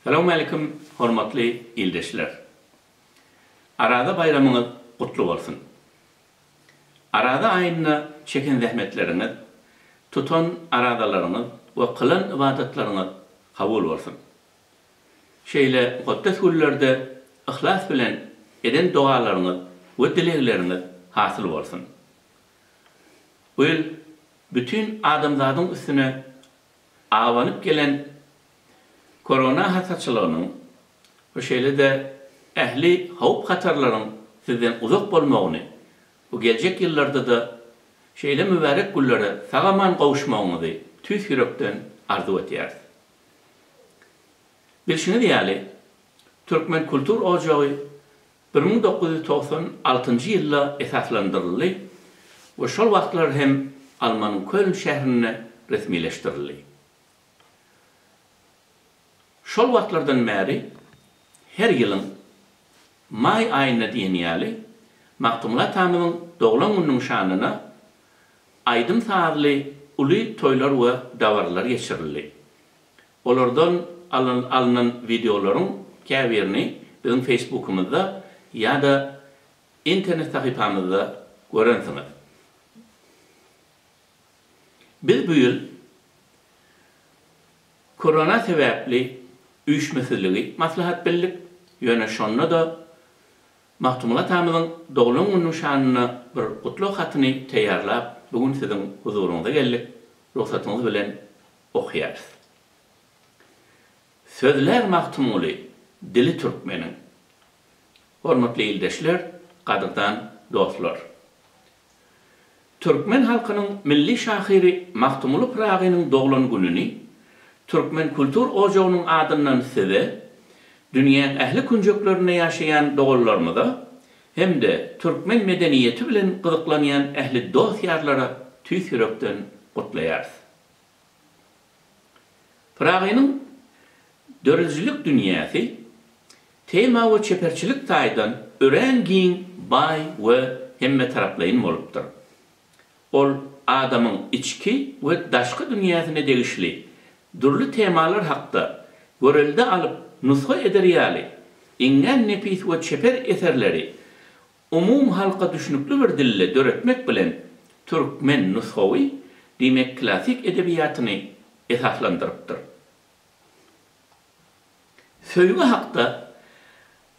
Salowmalikim hormatly ildeşler. Araza baýramyňyz gutly bolsun. Araza aýynda çeken zähmetleriňiz, tutan arazalaryňyz we kylan ybadatlaryňyz kabul bolsun. Şeýle mukaddes günlerde yhlas bilen eden dogalaryňyz we dilegleriňiz hasyl bolsun. Bu ýyl bütin adamzadyň üstüne Abanyp gelen korona hasaçylygynyň, bu şeýle-de ähli howp-hatarlaryň sizden uzak bolmagyny, bu geljek ýyllarda-da şeýle mübärek günlere sag-aman gowuşmagyňyzy tüýs ýürekden arzuw edýäris. Bilşiňiz ýaly, Türkmen kultur ojagy bir müň dokuz ýüz togsan altynjy ýylda esaslandyryldy we şol wagtlar hem Almanyň Köln şährinde resmileşdirildi. Şol wagtlardan bäri her ýylyň maý aýynda diýen ýaly Magtymguly atamyzyň doglan gününiň şanyna aýdym-sazly uly toýlar we dabaralar geçirildi. Olardan alnan wideolaryň käbirini biziň Facebookymyzda ýa-da internet sahypamyzda görensiňiz. Biz bu ýyl korona sebäpli üýşmesizligi maslahat bildik, ýöne şonda-da Magtymguly atamyzyň doglan gününiň şanyna bir gutlag hatyny taýýarlap, bu gün siziň huzuryňyza geldik. Rugsatyňyz bilen okaýarys. Sözlär Magtymguly dili türkmeniň. Hormatly ildeşler, gadyrdan dostlar! Türkmen halkynyň milli şahyry Magtymguly Pyragynyň doglan gününi Türkmen kultur ojagynyň adyndan size, dünýäň ähli künjeklerinde ýaşaýan doganlarymyza hem-de türkmen medeniýeti bilen gyzyklanýan ähli dost-ýarlara tüýs ýürekden gutlaýarys. Pyragynyň döredijilik dünýäsi tema we çeperçilik taýdan örän giň, baý we hemmetaraplaýyn bolupdyr. Ol adamyň içki we daşky dünýäsine degişli dürli temalar hakda görelde alyp nusga eder ýaly iňňän nepis we çeper eserleri umumy halka düşnükli bir dilde döretmek bilen türkmen nusgawy, diýmek klassyk edebiýatyny esaslandyrypdyr. Söýgi hakda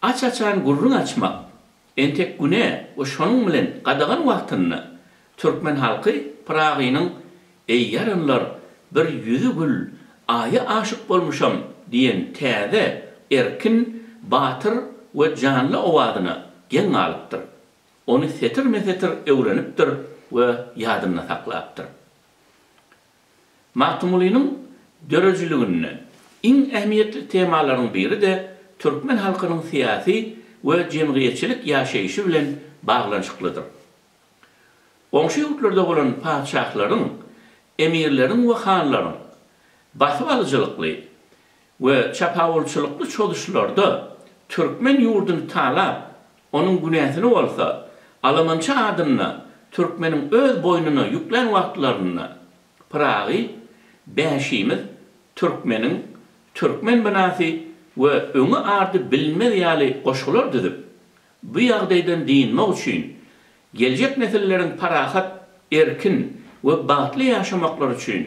aç-açan gürrüň açmak entek güne we şonuň bilen gadagan wagtynda Türkmen halky Pyragynyň Eý ýaranlar, bir ýüzi gül, Aýa aşyk bolmuşam diýen täze, erkin, batyr we janly owazyna geň galypdyr. Ony setirme-setir öwrenipdir we ýadynda saklapdyr. Magtymgulynyň döredijiliginde iň ähmiýetli temalaryň biri-de türkmen halkynyň syýasy we jemgyýetçilik ýaşaýşy bilen baglanyşyklydyr. Goňşy ýurtlarda bolan patyşahlaryň, emirleriň we hanlaryň basyp alyjylykly we çapawulçylykly çozuşlarda türkmen ýurduny talap, onuň günäsini bolsa alamança adynda türkmeniň öz boýnuna ýüklän wagtlarynda Pyragy bäşimiz türkmeniň türkmen binasy we öňi-ardy bilinmez ýaly goşgular düzüp, Bu ýagdaýdan dynmak üçin, geljek nesilleriň parahat, erkin we bagtly ýaşamaklary üçin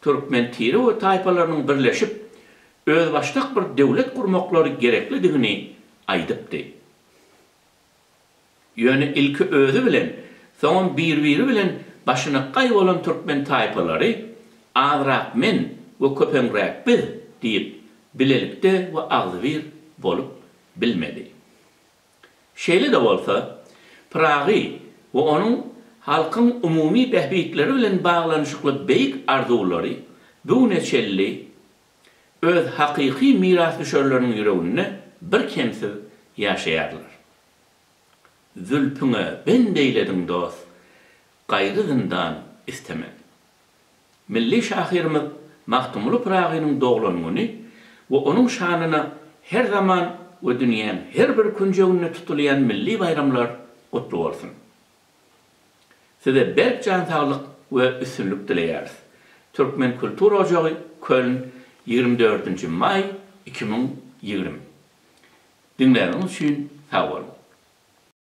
türkmen tire we taýpalarynyň birleşip, özbaşdak bir döwlet gurmaklary gereklidigini aýdypdy. Ýöne ilki özi bilen, soňam bir-biri bilen başyna gaý bolan türkmen taýpalary azrak men we köpeňräk biz diýip, bilelikde we agzybir bolup bilmedi. Şeýle-de bolsa, Pyragy we onuň halkyň umumy bähbitleri bilen baglanyşykly beýik arzuwlary bu güne çenli öz hakyky mirasdüşerleriniň ýüreginde birkemsiz ýaşaýarlar. Zülpüňe bend eýlediň dost, gaýry zyndan istemez. Milli şahyrymyz Magtymguly Pyragynyň doglan güni we onuň şanyna her zaman we dünýäň her bir künjeginde tutulýan milli baýramlar gutly bolsun! Size berk jan saglyk we üstünlik dileýäris! Türkmen kultura ojagy Köln ýigrimi dördünji maý iki müň ýigrimi Diňläniňiz üçin sag boluň!